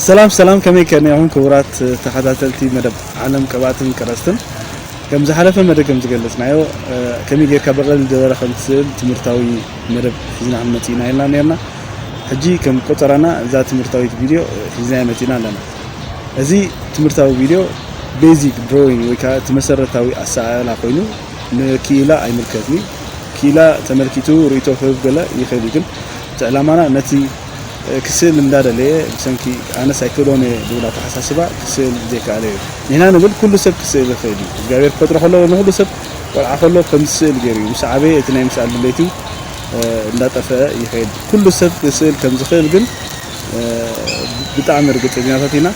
ሰላም ሰላም ከመይ ከኒኹም ክቡራት ተኸታተልቲ መደብ ዓለም ቅብኣትን ቀረስትን ከም ዝሓለፈ መደብ ከም ዝገለጽናዮ ከመይ ጌርካ ብቐሊል ደበረ ከም ትስእል ትምህርታዊ መደብ ሒዝና ክንመጽእና ኢልና ነርና ሕጂ ከም ቆጸራና እዛ ትምህርታዊት ቪድዮ ሒዝናያ መጺእና ኣለና እዚ ትምህርታዊ ቪድዮ ቤዚክ ድሮዊንግ ወይ ከዓ እቲ መሰረታዊ ኣሰኣእላ ኮይኑ ንክኢላ ኣይምልከትኒ ክኢላ ተመልኪቱ ርእይቶ ክህብ ገለ ይኽእል እዩ ግን እቲ ዕላማና ነቲ ክስእል እንዳደለየ ብሰንኪ ኣነስ ኣይክእሎን እየ ዝብል ኣተሓሳስባ ክስእል ዘይከኣለ እዩ። ንሕና ንብል ኩሉ ሰብ ክስእል ይኽእል እዩ። እግዚኣብሔር ክፈጥሮ ከሎ ንኹሉ ሰብ ቆልዓ ከሎ ከም ዝስእል ገይሩ እዩ። ምስ ዓበየ እቲ ናይ ምስኣል ድሌቱ እንዳጠፈኣ ይኸይድ። ኩሉ ሰብ ክስእል ከም ዝኽእል ግን ብጣዕሚ ርግፀኛታት ኢና።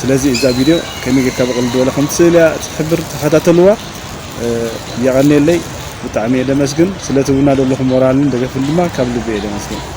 ስለዚ እዛ ቪድዮ ከመይ ጌርካ ብቕልል ዝበለ ከም ትስእል እያ ትሕብር ተኸታተልዋ። የቐንየለይ ብጣዕሚ እየ ደመስግን። ስለ ትህቡና ዘለኹም ሞራልን ደገፍን ድማ ካብ ልቢ እየ ደመስግን።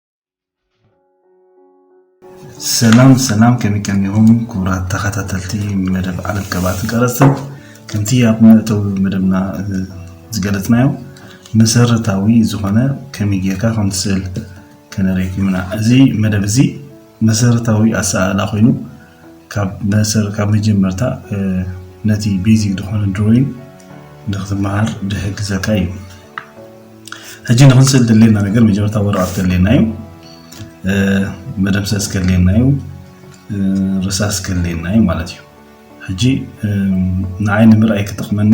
ሰላም ሰላም ከመይ ከኒኹም ክቡራት ተኸታተልቲ መደብ ዓለም ቀባትን ቀረፅትን ከምቲ ኣብ መእተዊ መደብና ዝገለፅናዮ መሰረታዊ ዝኾነ ከመይ ጌርካ ከም ትስእል ከነርእየኩም ኢና እዚ መደብ እዚ መሰረታዊ ኣሰኣእላ ኮይኑ ካብ መጀመርታ ነቲ ቤዚክ ዝኾነ ድሮይን ንክትመሃር ድሕግዘካ እዩ ሕጂ ንክንስእል ደለየና ነገር መጀመርታ ወረቐት ከድልየና እዩ መደምሰስ ከድልየና እዩ ርሳስ ከድልየና እዩ ማለት እዩ ሕጂ ንዓይ ንምርኣይ ክጠቅመኒ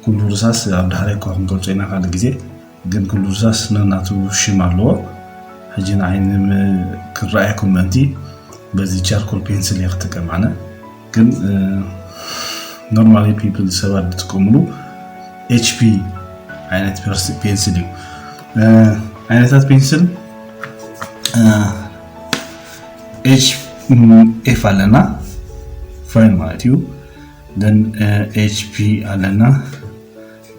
ኩሉ ርሳስ ኣብ ዳሕራይ እኳ ክንገልጾ ኢና ካልእ ግዜ ግን ኩሉ ርሳስ ነናቱ ሽም ኣለዎ ሕጂ ንዓይ ክረኣየኩም ምእንቲ በዚ ቻርኮል ፔንስል እየ ክጥቀም ኣነ ግን ኖርማሊ ፒፕል ሰባት ዝጥቀምሉ ኤችፒ አይነት ፔንስል እዩ። አይነታት ፔንስል ኤች ኤፍ ኣለና ፋይል ማለት እዩ ደን ኤች ፒ ኣለና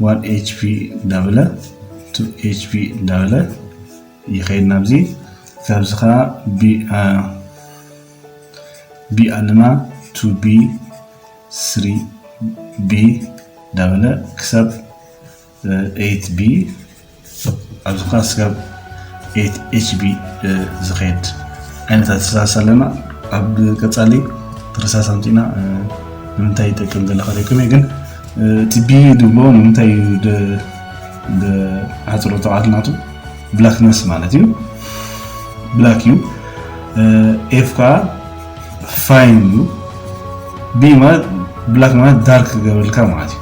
ዋን ኤች ፒ እንዳበለ ቱ ኤች ፒ እንዳበለ ይኸይድ ናብዚ ካብዚ ከዓ ቢ ኣለና ቱ ቢ ስሪ ቢ እንዳበለ ክሳብ ኤይት ቢ ኣብዚ ክዓ ስጋብ ኤይት ኤች ቢ ዝከድ ዓይነት ኣተሳሳሲ ኣለና ኣብ ቀፃሊ ትርሳስ ኣምፂና ንምንታይ ይጠቅም ገለ ከሪኩም እየ ግን እቲ ቢ ድብሎ ንምንታይ ብሓፅሮ ተቃት ናቱ ብላክነስ ማለት እዩ ብላክ እዩ ኤፍ ከዓ ፋይን እዩ ቢ ማለት ብላክ ማለት ዳርክ ገበልካ ማለት እዩ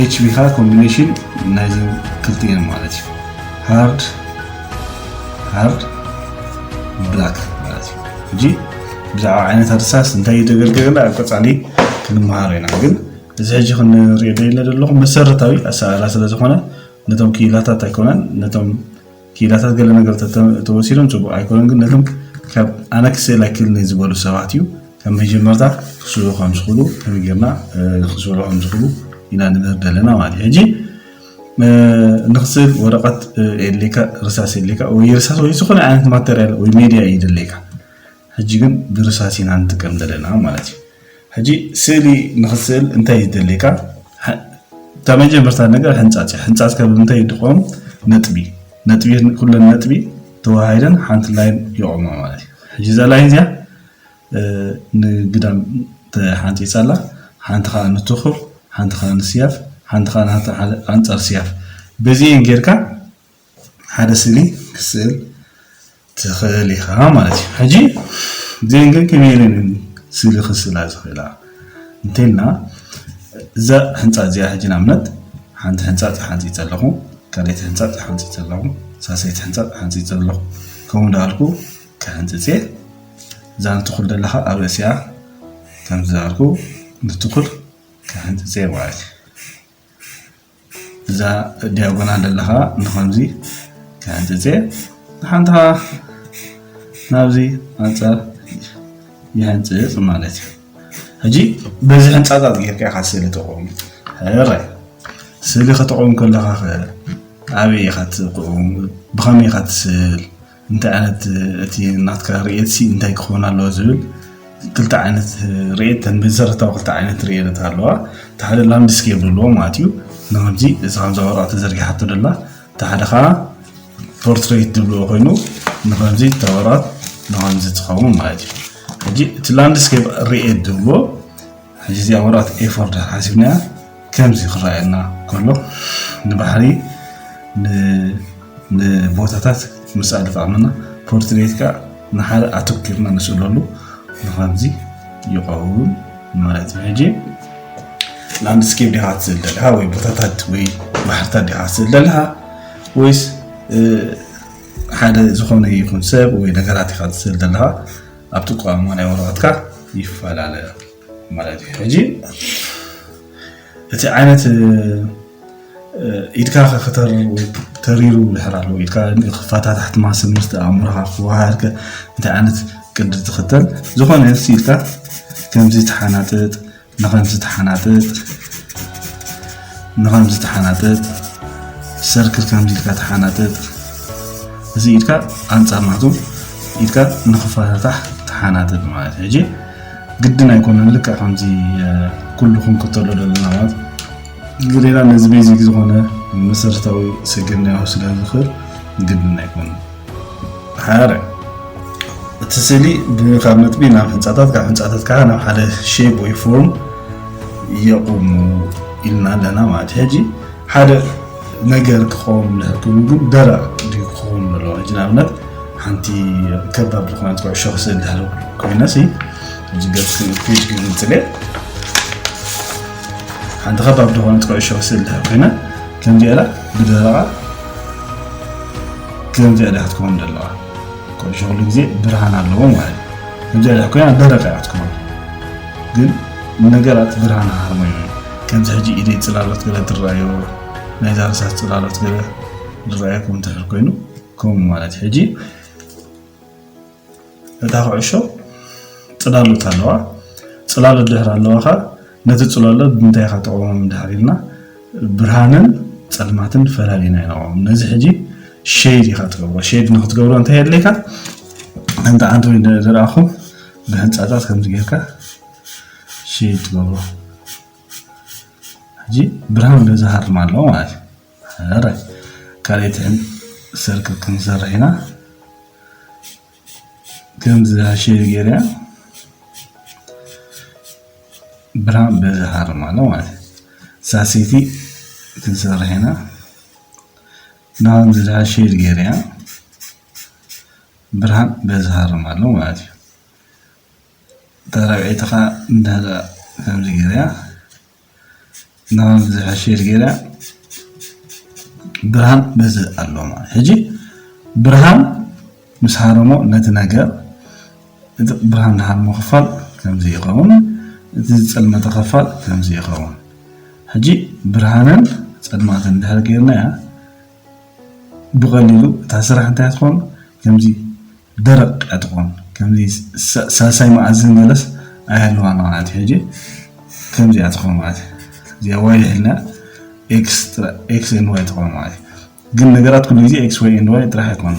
ኤችቢ ከዓ ኮምቢኔሽን ናይዘን ክልቲኤን ማለት እዩ ሃርድ ሃርድ ብላክ ማለት እዩ እንጂ ብዛዕባ ዓይነት እርሳስ እንታይ እዩ ደገልገለ ኣብ ቀፃሊ ክንመሃሮ ኢና ግን እዚ ሕጂ ክንሪኦ ደለ ዘለኹ መሰረታዊ ኣሰራርሓ ስለዝኾነ ነቶም ክኢላታት ኣይኮነን ነቶም ኪኢላታት ገለ ነገርታት ተወሲዶም ጽቡቕ ኣይኮነን ግን ነቶም ካብ ኣነ ክስእላ ኪልኒ ዝበሉ ሰባት እዩ ከም መጀመርታ ክስእሉ ከም ዝኽእሉ ከመይ ጌርና ክስእሉ ከም ዝኽእሉ ኢና ንምህር ደለና ማለት እዩ ሕጂ ንክስእል ወረቐት የድልየካ ርሳስ የድልየካ ወይ ርሳስ ወይ ዝኾነ ዓይነት ማተርያል ወይ ሜድያ እዩ ደለካ ሕጂ ግን ብርሳስ ኢና ንጥቀም ዘለና ማለት እዩ ሕጂ ስእሊ ንክትስእል እንታይ እዩ ዘድልየካ? እታ መጀመርታ ነገር ሕንጻጽ እዩ። ሕንጻጽ ከ ብምንታይ እዩ ድቆም? ነጥቢ ነጥቢ ኩለን ነጥቢ ተዋሃሂደን ሓንቲ ላይን ይቆማ ማለት እዩ። ሕጂ እዛ ላይን እዚኣ ንግዳም ተሓንጺጻ ኣላ፣ ሓንቲ ከዓ ንትኹር፣ ሓንቲ ከዓ ንስያፍ፣ ሓንቲ ከዓ ኣንጻር ስያፍ በዚኤን ጌርካ ሓደ ስእሊ ክትስእል ትኽእል ኢኻ ማለት እዩ ሕጂ እዚአን ግን ከመይ ኢለን እየን ስእሊ ክስእላ ዝኽእላ እንተይልና እዛ ህንፃ እዚኣ ሕጂ ንኣብነት ሓንቲ ህንፃ ተሓንፂፀ ኣለኹ ካልኣይቲ ህንፃ ተሓንፂፀ ኣለኹ ሳልሰይቲ ህንፃ ተሓንፂፀ ኣለኹ ከምኡ እንዳበልኩ ክሕንፅፅ እየ እዛ ንትኹል ዘለኻ ኣብ ርእሲኣ ከምዚ ዝበልኩ ንትኹል ክሕንፅፅ እየ ማለት እዩ እዛ ዲያጎናል ዘለኻ ንኸምዚ ክሕንፅፅ እየ ንሓንቲ ከዓ ናብዚ ኣንፃር ይሕንፅፅ ማለት እዩ ሕጂ በዚ ሕንፃፃት ጌርካ ኢኻ ስእሊ ተቑም ሕራይ ስእሊ ከተቑም ከለኻ ኸ ኣበይ ኢኻ ትቑም ብኸመይ ኢኻ ትስእል እንታይ ዓይነት እቲ ናትካ ርእየትሲ እንታይ ክኸውን ኣለዎ ዝብል ክልተ ዓይነት ርእየት ተን መሰረታዊ ክልተ ዓይነት ርእየት ኣለዋ እቲ ሓደ ላንድስኬፕ ዘለዎ ማለት እዩ ንከምዚ እዚ ከምዛ ወረቐት ተዘርጊሓቶ ደላ እቲ ሓደ ከዓ ፖርትሬት ዝብልዎ ኮይኑ ንከምዚ እታ ወረቐት ንከምዚ ትኸውን ማለት እዩ ሕጂ እቲ ላንድስኬፕ ርእየት ዝብልዎ ሕጂ እዚኣ ወረቐት ኤፎር ድሕር ሓሲብናያ ከምዚ ክረኣየና ከሎ ንባሕሪ ንቦታታት ምስኣል ይጠቕመና ፖርትሬት ከዓ ንሓደ ኣተኪርና ንስእለሉ ንከምዚ ይኸውን ማለት እዩ ሕጂ ላንድስኬፕ ዲኻ ትስእል ዘለካ ወይ ቦታታት ወይ ባሕርታት ዲኻ ትስእል ዘለካ ወይስ ሓደ ዝኾነ ይኹን ሰብ ወይ ነገራት ኢኻ ትስእል ዘለካ ኣብቲ ቋንቋ ናይ ወረቐትካ ይፈላለ ማለት እዩ። ሕጂ እቲ ዓይነት ኢድካ ከተሪሩ ድሕር ኣለዎ ኢድካ ክፈታታሕቲ ማስል ምስቲ ኣእምሮኻ ክወሃሃድከ እንታይ ዓይነት ቅዲ ትኽተል ዝኾነ ኢልካ ከምዚ ተሓናጥጥ ንኸምዚ ተሓናጠጥ ሰርክል ከምዚ ኢልካ ተሓናጠጥ እዚ ኢድካ ኣንፃር ናቶም ኢድካ ንኽፈታታሕ ተሓናጠጥ ማለት እዩ ሕጂ ግድን ኣይኮነን ልክዕ ከምዚ ኩሉ ክንክተሎ ዘለና ማለት ግዴታ ነዚ ቤዚክ ዝኾነ መሰረታዊ ስግር ናይ ስለ ዝኽእል ግድን ኣይኮነን ሓረ እቲ ስእሊ ካብ ነጥቢ ናብ ህንፃታት ካብ ህንፃታት ከዓ ናብ ሓደ ሼፕ ወይ ፎርም የቑሙ ኢልና ኣለና ማለት ሕጂ ሓደ ነገር ክኸውን ንህልኩም ግን ደረቕ ድዩ ክኸውን ኣለዎ ሕጂ ንኣብነት ሓንቲ ከባብ ዝኾነት ኩዕሾ ክስእል ዳሃሉ ኮይነሲ እዚ ገፅ ፔጅ ክግንፅለ ሓንቲ ከባብ ዝኾነት ኩዕሾ ክስእል ዳሃሉ ኮይነ ከምዚኣላ ብደረቓ ከምዚኣ ድያ ክትከውን ዘለዋ ቆዲሾ ኩሉ ግዜ ብርሃን ኣለዎ ማለት ከምዚኣ ድያ ኮይና ደረቅ እያ ክትከውን ግን ነገራት ብርሃን ሃርመዮ ከምዚ ሕጂ ኢደይ ጽላሎት ገለ ትረኣዮ ናይዛ ርሳስ ጽላሎት ገለ ዝረኣየኩም እንተድሕር ኮይኑ ከምኡ ማለት ሕጂ እታ ኩዕሾ ጽላሎት ኣለዋ። ጽላሎት ድሕሪ ኣለዋኻ ነቲ ጽላሎት ብምንታይ ኢኻ ተቕውሞም እንድሕር ኢልና ብርሃንን ጸልማትን ፈላሊና ኢና ንቐውም። ነዚ ሕጂ ሸይድ ኢኻ ትገብሮ። ሸይድ ንክትገብሮ እንታይ የድልየካ? ከምቲ ዓንዲ ዝረኣኹም ብህንጻታት ከምዚ ጌርካ ሸይድ ትገብሮ። ሕጂ ብርሃን በዚ ሃርማ ኣለዎ ማለት እዩ። ሕራይ ካልኣይትህን ሰርክ ክንሰርሕ ኢና ከምዚ ሃሸዩ ገይርያ ብርሃን በዚ ሃርም ኣሎ ማለት እዩ ሳሲቲ ክንሰርሕ ኢና ንከምዚ ሃሸዩ ገይርያ ብርሃን በዚ ሃርም ኣሎ ማለት እዩ ተራብዒትኻ እንዳ ከምዚ ገይርያ ናሆም ዝሐሸ ሼር ገይረ ብርሃን ነዚ ኣሎ ማለት ሕጂ ብርሃን ምስ ሃረሞ ነቲ ነገር እቲ ብርሃን ዝሃርሞ ክፋል ከምዚ ይኸውን እቲ ዝፀልመተ ክፋል ከምዚ ይኸውን ሕጂ ብርሃንን ፀልማትን ድሕር ገይርናያ ብቐሊሉ እታ ስራሕ እንታይ ትኾን ከምዚ ደረቅ እያ ትኾን ከምዚ ሳልሳይ መኣዝን ገለስ ኣይሃልዋን ማለት ሕጂ ከምዚ እያ ትኾን ማለት እዚኣ ዋይ ይሕልና ኤክስትራ ኤክስ ኤንድ ዋይ ትኾን ማለት ግን ነገራት ኩሉ ግዜ ኤክስ ዋይ ኤንድ ዋይ ጥራሕ ኣይኮን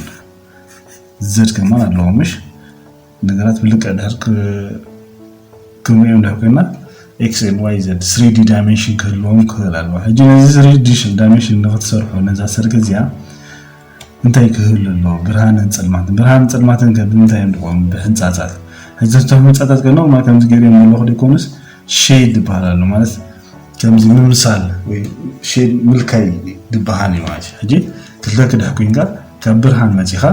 ዘድ ከማን ኣለዎ ምሽ ነገራት ብልክዕ ድሕር ክንሪኦም ድሕር ኮይና ኤክስ ኤንድ ዋይ ዘድ ስሪዲ ዳይሜንሽን ክህልዎም ክኽእል ኣለዎ ሕጂ ነዚ ስሪዲ ዳይሜንሽን ንክትሰርሑ ነዛ ሰርኪ እዚኣ እንታይ ክህሉ ኣለዎ ብርሃንን ጽልማትን ብርሃንን ጽልማትን ከ ብምንታይ እዮም ዝቖሙ ብሕንጻጻት ሕጂ እቶም ሕንጻጻት ከነቑማ ከምዚ ገይሩ እዮም ዘለኹ ደይኮኑስ ሼድ ዝበሃል ኣሎ ማለት ከምዚ ምምሳል ወይ ሼድ ምልካይ ዝበሃል እዩ ማለት እዩ ሕጂ ክልተ ክዳህ ኮይንካ ካብ ብርሃን መጺኻ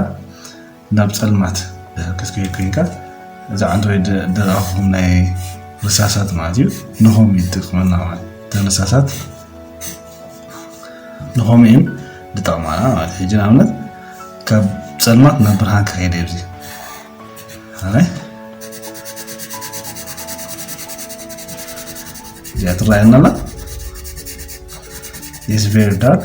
ናብ ጸልማት ክትከይድ ኮይንካ እዚ ኣንድሮይድ ደረኹም ናይ ርሳሳት ማለት እዩ ንሆም ይጠቅመና ማለት እተን ርሳሳት ንሆም እየን ዝጠቕማና ማለት ሕጂ ንኣብነት ካብ ጸልማት ናብ ብርሃን ክኸይደ እብዚ እዚኣ ትረኣየና ኣላ ኢዝ ቨሪ ዳርክ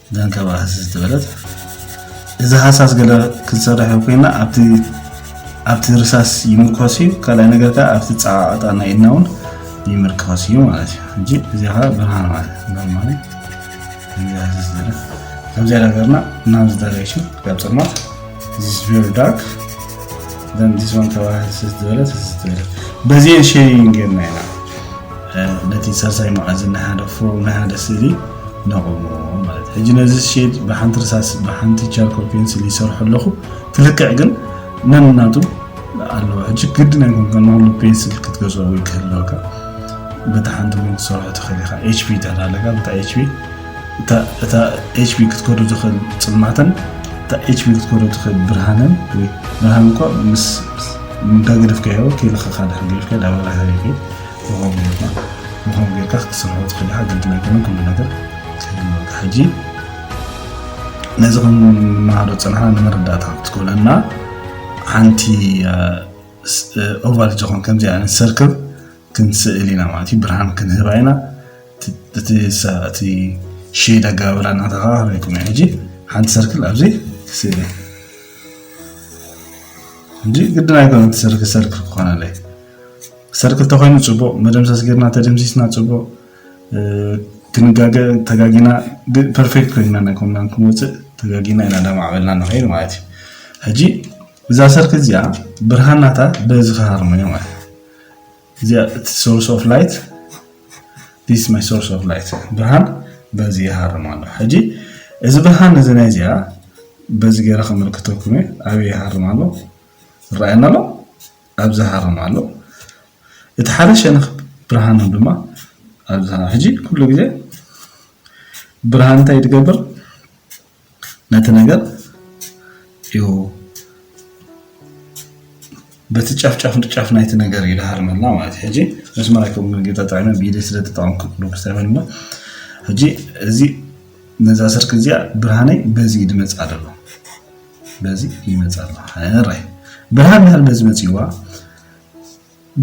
ደንከባ ሃሰስ ዝበለት እዚ ሃሳስ ገለ ክንሰርሕ ኮይና ኣብቲ ኣብቲ ርሳስ ይምርኮስ እዩ ካልኣይ ነገር ከዓ ኣብቲ ፀዓቐጣ ናይ ኢድና እውን ይምርኮስ እዩ ማለት እዩ ሕጂ እዚ ከዓ ብርሃን ማለት ኖርማሊ ሃሰስ ዝበለት ከምዚ ነገርና ናብዚ ዳይሬክሽን ካብ ፀልማት ዚስ ቬሪ ዳርክ ዘን ዚስ ዋን ከባ ሃሰስ ዝበለት ሃሰስ ዝበለት በዚኤን ሼሪንግ ጌርና ኢና ነቲ ሳልሳይ መኣዝን ናይ ሓደ ፎርም ናይ ሓደ ስእሊ ነቑሞ ማለት ሕጂ ነዚ ሼድ ብሓንቲ ርሳስ ብሓንቲ ቻርኮል ፔንስል ይሰርሑ ኣለኹ ትልክዕ ግን ነንናቱ ኣለዎ ሕጂ ግድን ኣይኮን ከንኩሉ ፔንስል ክትገዝኦ ወይ ክህልወካ በታ ሓንቲ እውን ትሰርሖ ትኽእል ኢኻ ኤችፒ ተላለጋ በታ ኤችፒ እታ ኤችፒ ክትከዶ ትኽእል ፅልማተን እታ ኤችፒ ክትከዶ ትኽእል ብርሃንን ወይ ብርሃን እኳ ምስ እንዳገደፍካዮ ከይልኸኻ ድሕር ገድፍካ ዳበራ ሃሪፊ ንኸምኡ ጌርካ ንኸምኡ ጌርካ ክትሰርሖ ትኽእል ኢኻ ግድን ኣይኮነን ኩሉ ነገር ክህልወካ ሕጂ ነዚ ክንመሃሮ ዝጸናሕና ንመረዳእታ ክትኮነና ሓንቲ ኦቫል ዝኾን ከምዚ ዓይነት ሰርክብ ክንስእል ኢና ማለት እዩ ብርሃን ክንህባ ኢና እቲ እቲ ሼድ ኣገባብራ እናተኸባበረኩም እዩ ሕጂ ሓንቲ ሰርክል ኣብዚ ስእሊ እንጂ ግድን ኣይኮነ እቲ ሰርክል ሰርክል ክኾነለይ ሰርክል ተኮይኑ ፅቡቅ መደምሰስ ገርና ተደምሲስና ፅቡቅ ክንጋገ ተጋጊና ፐርፌክት ኮይና ናይ ኮምናን ክንወፅእ ተጋጊና ኢና ዳማዕበልና ንኸይድ ማለት እዩ ሕጂ እዛ ሰርክል እዚኣ ብርሃናታ በዚ ክሃርመዮ ማለት እዚኣ እቲ ሶርስ ኦፍ ላይት ዲስ ማይ ሶርስ ኦፍ ላይት ብርሃን በዚ ይሃርም ኣሎ ሕጂ እዚ ብርሃን እዚ ናይ እዚኣ በዚ ገይረ ከመልክተኩም እየ ኣበይ ይሃርም ኣሎ ይረኣየና ኣሎ ኣብ ዝሃሮም ኣሎ እቲ ሓደ ሸነኽ ብርሃኖም ድማ ኣብ ዝሃሮም ሕጂ ኩሉ ግዜ ብርሃን እንታይ ትገብር ነቲ ነገር እዩ በቲ ጫፍ ጫፍ ጫፍ ናይቲ ነገር ይደሃርመልና ማለት እዩ ሕጂ መስመር ኣይከውን ጌታ ጥዕመ ብኢደ ስለ ተጠቐምኩ ዶክተርን እሞ ሕጂ እዚ ነዛ ስርቂ እዚኣ ብርሃነይ በዚ ድመፅ ኣለዎ በዚ ይመፃ ኣሎ ሕራይ ብርሃን ድሕሪ በዚ መፂዋ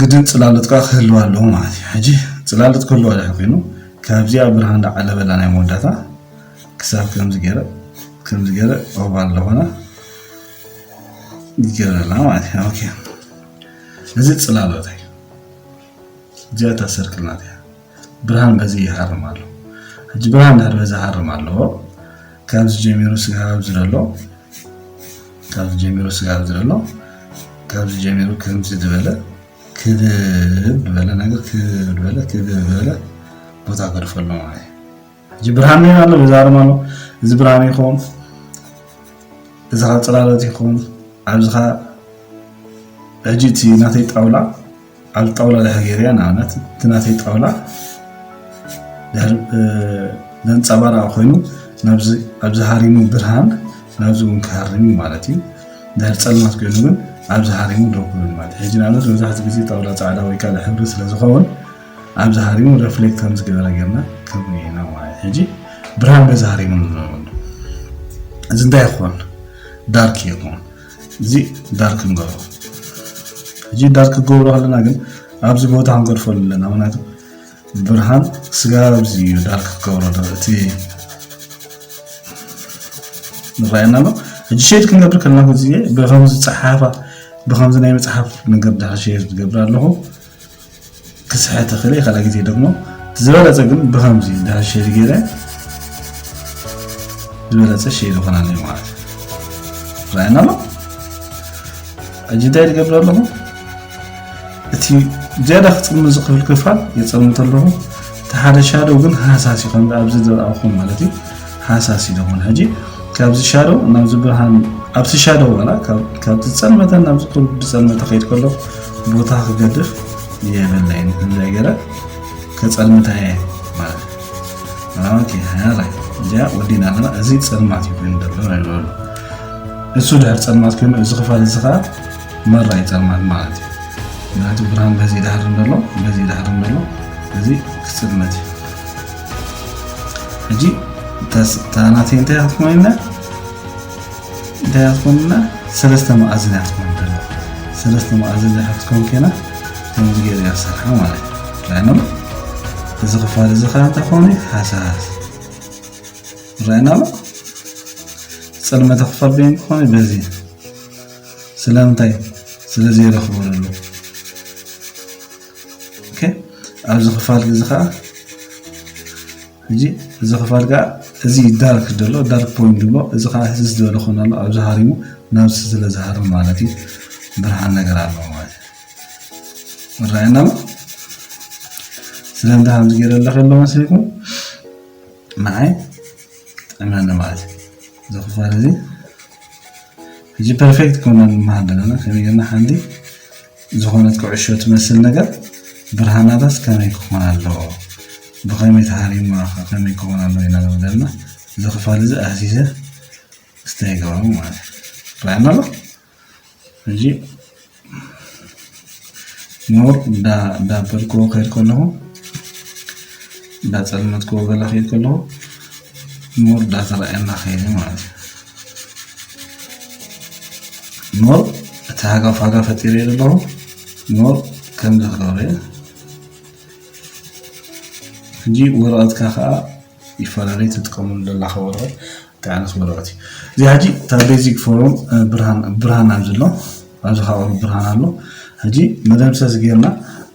ግድን ፅላሎት ከዓ ክህልዋ ኣለዎ ማለት እዩ ሕጂ ፅላሎት ክህልዋ ድሕሪ ኮይኑ ካብዚኣ ብርሃን ዳዓለበላ ናይ መወዳእታ ክሳብ ከምዚ ገይረ ከምዚ ገይረ ኦባ ኣለኾነ ይገረላ ማለት እዩ ኦኬ እዚ ፅላሎት እዩ እዚኣ እታ ሰርክል ናት እያ ብርሃን በዚ ይሃርም ኣሎ ሕጂ ብርሃን ድሕር በዚ ሃርም ኣለዎ ካብዚ ጀሚሩ ስጋ ኣብዚ ዘሎ ካብዚ ጀሚሩ ስጋ ኣብዚ ዘሎ ካብዚ ጀሚሩ ከምዚ ዝበለ ክብ ዝበለ ነገር ክብ ዝበለ ክብ ዝበለ ቦታ ገድፈሎም ኣየ እዚ ብርሃን ኔና ኣሎ ይዛረብ ኣሎ እዚ ብርሃን ይኹም እዚ ኸ ፅላሎት ይኹም ኣብዚ ኸ ሕጂ እቲ ናተይ ጣውላ ኣብ ጣውላ ድሕር ገይረ ንኣብነት እቲ ናተይ ጣውላ ዘንፀባርቕ ኮይኑ ኣብዚ ሃሪሙ ብርሃን ናብዚ እውን ክሃርም እዩ ማለት እዩ ድሕር ፀልማት ኮይኑ ግን ኣብዚ ሃሪሙ ደው ክብል ማለት ሕጂ ንኣብነት መብዛሕትኡ ግዜ ጣውላ ፃዕዳ ወይ ካልእ ሕብሪ ስለዝኸውን ኣብዚ ሃሪሙ ረፍሌክት ከም ዝገበረ ጌርና ክንርእዮ ኢና ማለት እዩ። ሕጂ ብርሃን በዚ ሃሪሙ ንብሎ ኣሎ። እዚ እንታይ ይኾን? ዳርክ ይኾን። እዚ ዳርክ ንገብሮ። ሕጂ ዳርክ ክገብሮ ከለና ግን ኣብዚ ቦታ ክንገድፎ ኣለና። ምክንያቱ ብርሃን ስጋብ ኣብዚ እዩ ዳርክ ክገብሮ ዶ እቲ ንረኣየና ኣሎ። ሕጂ ሸድ ክንገብር ከለና እዚ ብከምዚ ጸሓፋ ብከምዚ ናይ መጽሓፍ ነገር ድሓር ሸድ ዝገብር ኣለኹ። ክስሕት እኽእል እየ ካልኣይ ግዜ ደግሞ ዝበለፀ ግን ብከምዚ ድሕር ሼር ገይረ ዝበለፀ ሼር ይኾን ኣለዩ ማለት እዩ ራእና ኣሎ ሕጂ እንታይ ዝገብር ኣለኹ እቲ ዝያዳ ክፅምን ዝኽእል ክፋል የፀምት ኣለኹ እቲ ሓደ ሻደው ግን ሃሳሲ ከም ኣብዚ ዝረኣኹም ማለት እዩ ሃሳስ ኢሎም ውን ሕጂ ካብዚ ሻደው ናብዚ ብርሃን ኣብቲ ሻደው ዋላ ካብቲ ዝፀልመተ ናብዚ ቁሩብ ዝፀልመተ ከይድ ከለኹ ቦታ ክገድፍ የብለይ ንክንደይ ገረ ከፀልምታ እየ ማለት ኦኬ ያላ እዚኣ ወዲና ኣለና እዚ ፀልማት እዩ ኮይኑ ዘሎ ይበሉ እሱ ድሕር ፀልማት ኮይኑ እዚ ክፋል እዚ ከዓ መራይ ፀልማት ማለት እዩ ምክንያቱ ብርሃን በዚ ዳህር እንደሎ በዚ ዳህር እንደሎ እዚ ክፅልመት እዩ ሕጂ እታ ናተይ እንታይ እያ ክትኮን ኢልና እንታይ እያ ክትኮን ኢልና ሰለስተ መኣዝን እያ ክትኮን ደላ ሰለስተ መኣዝን ድሕር ክትኮን ከይና ከምዚ ገይረ እያ ዝሰርሓ ማለት እዩ ራይና ኣሎ እዚ ክፋል እዚ ከዓ እንታይ ክኸውን እዩ ሃሳስ ራይና ኣሎ ፅልመተ ክፋል በይን ክኾን እዩ በዚ ስለምንታይ ስለዘይረኽቦ ደሎ ኣብዚ ክፋል እዚ ከዓ እዚ ክፋል ከዓ እዚ ዳርክ ዘሎ ዳርክ ፖይንት ድማ እዚ ከዓ እዚ ዝበለ ኮይኑ ኣሎ ኣብዚ ሃሪሙ ናብ ስለ ዝሃርም ማለት እዩ ብርሃን ነገር ኣሎ ማለት እዩ ይረኣየና ኣሎ ስለምንታይ ከምዚ ገይረ ኣለኸ ኣሎ መሲልኩም ንዓይ ጥዕመኒ ማለት እዩ እዚ ክፋል እዚ ሕጂ ፐርፌክት ኮና ንመሃር ዘለና ከመይ ጌርና ሓንቲ ዝኾነት ኩዕሾ ትመስል ነገር ብርሃናታስ ከመይ ክኾን ኣለዎ ብኸመይ ተሃሪማ ከ ከመይ ክኾን ኣለዎ ኢና ንብል ዘለና እዚ ክፋል እዚ ኣህሲሰ እስተ ይገበሩ ማለት ይረኣየና ኣሎ ሕጂ ኖር እንዳበልክዎ ከይድ ከለኹ እንዳፀልመትክዎ ገለ ከይድ ከለኹ ኖር እንዳተረኣየና ከይድ ማለት እዩ ሞር እቲ ሃጋፍ ዋጋ ፈጢረ ዘለኹ ሞር ከምዚ ክገብረ እየ ሕጂ ወረቐትካ ከዓ ይፈላለዩ ትጥቀመሉ ዘለካ ወረቐት እንታይ ዓይነት ወረቐት እዩ እዚ ሕጂ እታ ቤዚክ ፎርም ብርሃን ኣብ ዘሎ ኣብዚ ከዓ ቁሩብ ብርሃን ኣሎ ሕጂ መደምሰስ ጌርና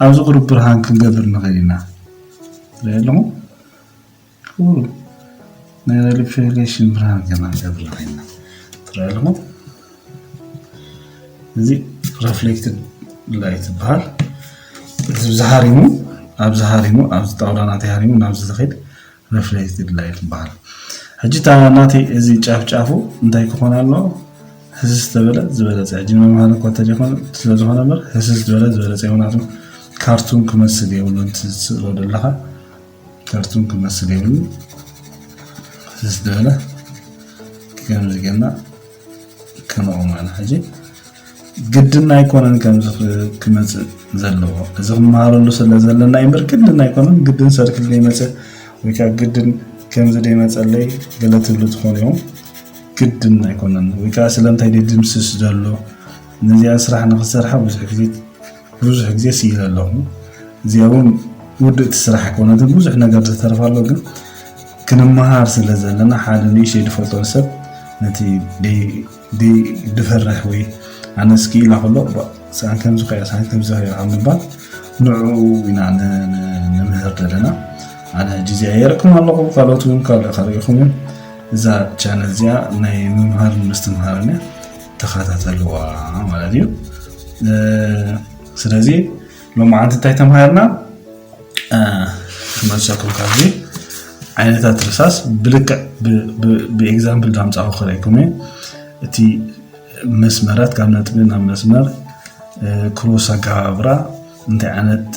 ኣብዚ ቁሩብ ብርሃን ክንገብር ንኽእል ኢና ትሪኦ ኣለኹም ክቡር ናይ ላይሊ ፌደሬሽን ብርሃን ዜና ዘብርሃልና ትረኣ ኣለኹም እዚ ረፍሌክትድ ላይት ዝበሃል እዚ ዝሃሪሙ ኣብዚ ሃሪሙ ኣብዚ ጣውላ ናተይ ሃሪሙ ናብዚ ዝኸይድ ረፍሌክትድ ላይት ይበሃል ሕጂ እታ ናተይ እዚ ጫፍ ጫፉ እንታይ ክኾን ኣለዎ ህስስ ተበለ ዝበለፀ ሕጂ መምሃሪ እኳ እንተዘይኮነ ስለዝኾነ እምበር ህስስ ዝበለ ዝበለፀ ይኹናቱ ካርቱን ክመስል የብሉን እቲ ዝስእሎ ዘለኻ ተርቱም ክመስል የብሉ ዝተበለ ከምዚ ገና ከነቑም ኣነ ሕጂ ግድና ኣይኮነን ከምዚ ክመፅእ ዘለዎ እዚ ክመሃረሉ ስለ ዘለና እምበር ግድን ኣይኮነን ግድን ሰርክል ዘይመፅእ ወይ ከዓ ግድን ከምዚ ዘይመፀለይ ገለ ትብሉ ትኾኑ እዮም ግድን ኣይኮነን ወይ ከዓ ስለምንታይ ድምስስ ዘሎ ነዚኣ ስራሕ ንክሰርሓ ብዙሕ ግዜ ብዙሕ ግዜ ስኢለ ኣለኹ እዚኣ እውን ውድእቲ ስራሕ ኣይኮነት ብዙሕ ነገር ዝተርፍ ኣሎ ግን ክንመሃር ስለ ዘለና ሓደ ንእሽተይ ዝፈልጦ ሰብ ነቲ ድፈርሕ ወይ ኣነስ ክኢላ ከሎ ሰኣን ከምዚ ከያ ሰኣን ከምዚ ከያ ካብ ምባል ንዕኡ ኢና ንምህር ዘለና ኣነ ጅዜ ኣየርኩም ኣለኹ ካልኦት እውን ካልእ ከርእኹም እዮም እዛ ቻነል እዚኣ ናይ ምምሃር ምስትምሃርን እያ ተኸታተልዋ ማለት እዩ ስለዚ ሎመዓንቲ እንታይ ተምሃርና ክመልሰኩም ካብዚ ዓይነታት ርሳስ ብልክዕ ብኤግዛምፕል ዳምፃኹ ክረይኩም እዩ እቲ መስመራት ካብ ነጥቢ ናብ መስመር ክሮስ ኣገባብራ እንታይ ዓይነት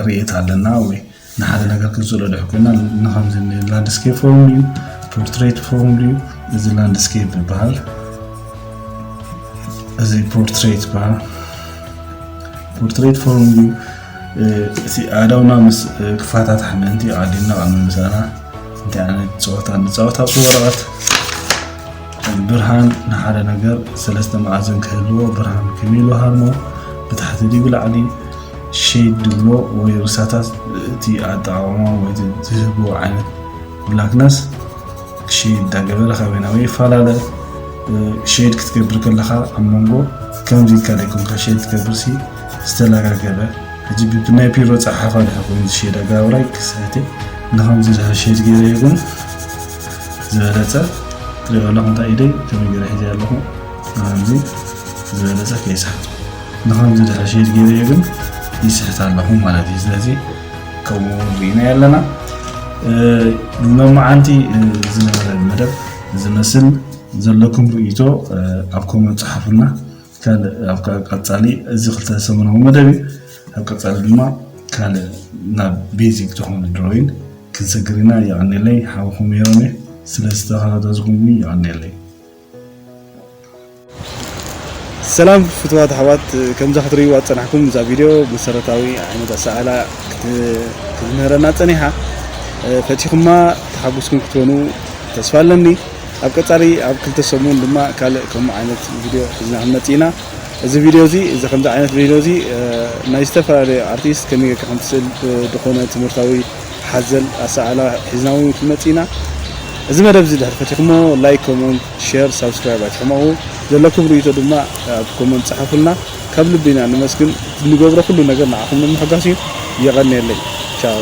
ርእየት ኣለና ወይ ንሓደ ነገር ክንስእሎ ድሕር ኮይና ንከምዚ ላንድስኬፕ ፎርም ድዩ ፖርትሬት ፎርም ድዩ እዚ ላንድስኬፕ ይበሃል እዚ ፖርትሬት ይበሃል ፖርትሬት ፎርም ድዩ እቲ ኣእዳውና ምስ ክፋታት ሓመንቲ ዓዲና ቅድሚ ምሳና እንታይ ዓይነት ፀወታ ንፃወት ኣብቲ ወረቐት ብርሃን ንሓደ ነገር ሰለስተ መኣዝን ክህልዎ ብርሃን ከመይ ኢሉ ሃርሞ ብታሕቲ ድዩ ብላዕሊ ሸይድ ድብሎ ወይ ርሳታት እቲ ኣጠቃቅማ ወይ ዝህብዎ ዓይነት ብላክነስ ሸይድ ዳገበረ ካበይ ናበይ ይፈላለ ሸይድ ክትገብር ከለካ ኣብ መንጎ ከምዚ ኢልካ ደይኮንካ ሸይድ ትገብርሲ ዝተለጋገበ ሕጂ ብናይ ፒሮ ፀሓፋ ድሕር ኮይኑ ዝሸይድ ኣገባብራይ ክስሕት ንከምዚ ድሕር ሸይድ ገይረ ይኩን ዝበለፀ ትሪኦ ኣለኹም እንታይ ኢደይ ከመይ ገይረ ሒዘ ኣለኹ ኣዚ ዝበለፀ ከይስሕት ንኸምዚ ድሕሪ ሸይድ ገይረዮ ግን ይስሕት ኣለኹ ማለት እዩ ስለዚ ከምኡ ርኢናዮ ኣለና ንመማዓንቲ ዝነበረ መደብ ዝመስል ዘለኩም ርእይቶ ኣብ ኮመንት ፀሓፉልና ካልእ ኣብ ቀፃሊ እዚ ክልተ ሰሙናዊ መደብ እዩ ኣብ ቀፃሊ ድማ ካልእ ናብ ቤዚክ ዝኾነ ድሮይን ክንሰግር ኢና የቀኒለይ ሓውኹም ሜሮን እየ ስለ ዝተኸታተልኩምኒ የቀኒለይ ሰላም ፍትዋት ኣሕዋት ከምዛ ክትርእይዋ ዝፀናሕኩም እዛ ቪድዮ መሰረታዊ ዓይነት ኣሰኣላ ክትምህረና ፀኒሓ ፈቲኹማ ተሓጉስኩም ክትኮኑ ተስፋ ኣለኒ ኣብ ቀጻሊ ኣብ ክልተ ሰሙን ድማ ካልእ ከምኡ ዓይነት ቪድዮ ሒዝና ክንመጽእ ኢና። እዚ ቪድዮ እዚ እዚ ከምዚ ዓይነት ቪድዮ እዚ ናይ ዝተፈላለዩ ኣርቲስት ከመይ ጌርካ ከም ትስእል ብድኾነ ትምህርታዊ ሓዘል ኣሰኣእላ ሒዝና እውን ክንመጽእ ኢና። እዚ መደብ እዚ ድሕሪ ፈቲኽሞ ላይክ ኮሞንት ሼር ሳብስክራይብ ኣይትሕመቑ። ዘለኩም ርእይቶ ድማ ኣብ ኮሞንት ጽሓፉልና። ካብ ልቢ ኢና ነመስግን። ንገብሮ ኩሉ ነገር ንዓኹም ንምሕጓስ እዩ። የቐንየለይ። ቻው።